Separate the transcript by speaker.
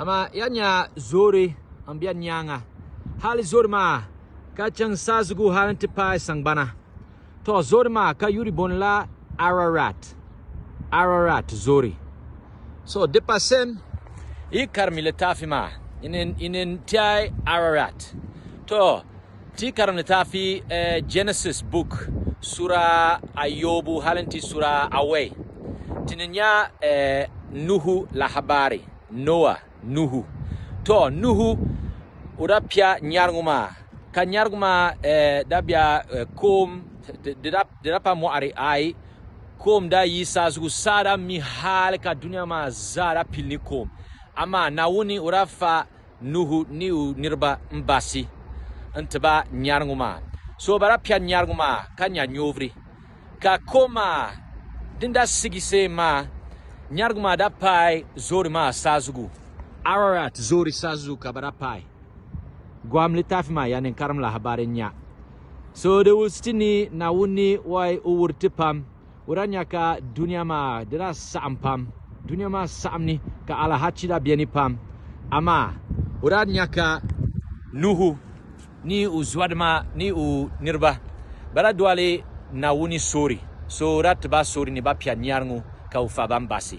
Speaker 1: Amaa ya nya zoori m-be n nyaaŋa, hal zoori maa ka chaŋ saazugu hal nti paai saŋgbana. Tɔ! Zoori maa ka yuri bɔni la Ararat, Ararat zoori. So di pa sen yi karimi litaafi maa, yi ni tiɛhi Ararat. Tɔ! Ti yi karim litaafi Genesis book sura ayobu hali n-ti sura awɛi, ti ni nya Nuhu lahabari, Noa, Nuhu. Tɔ! Nuhu o daa pia nyarigu maa, ka nyarigu maa daa bia koom, di daa pa mɔɣiri, aai, koom daa yi saa zugu, saa daa mi hali ka dunia maa zaa daa pili ni koom. Amaa Naawuni o daa fa Nuhu ni o niriba m-baɣisi n-ti ba nyariŋu maa. So bala piɛri nyariŋu maa ka nya nyoviri. Ka kom maa din daa sigi seem maa, nyariŋu maa daa paai zoori maa saazugu. Ararat zoori saazugu ka bɛ daa paai. Gohim litaafi maa ya ninkarim lahabari nya. So di wusiti ni Naawuni ni wɔi o wuhiri ti pam. o daa nya ka dunia maa di daa saɣim pam. Dunia maa saɣim ni ka alahachi daa beni pam. Amaa o daa nya ka Nuhu ni o zuadima ni o niriba ba daa doli Naawuni soori, so o daa ti ba soori ni ba pia niari ŋɔ ka o fa ba m-baɣisi.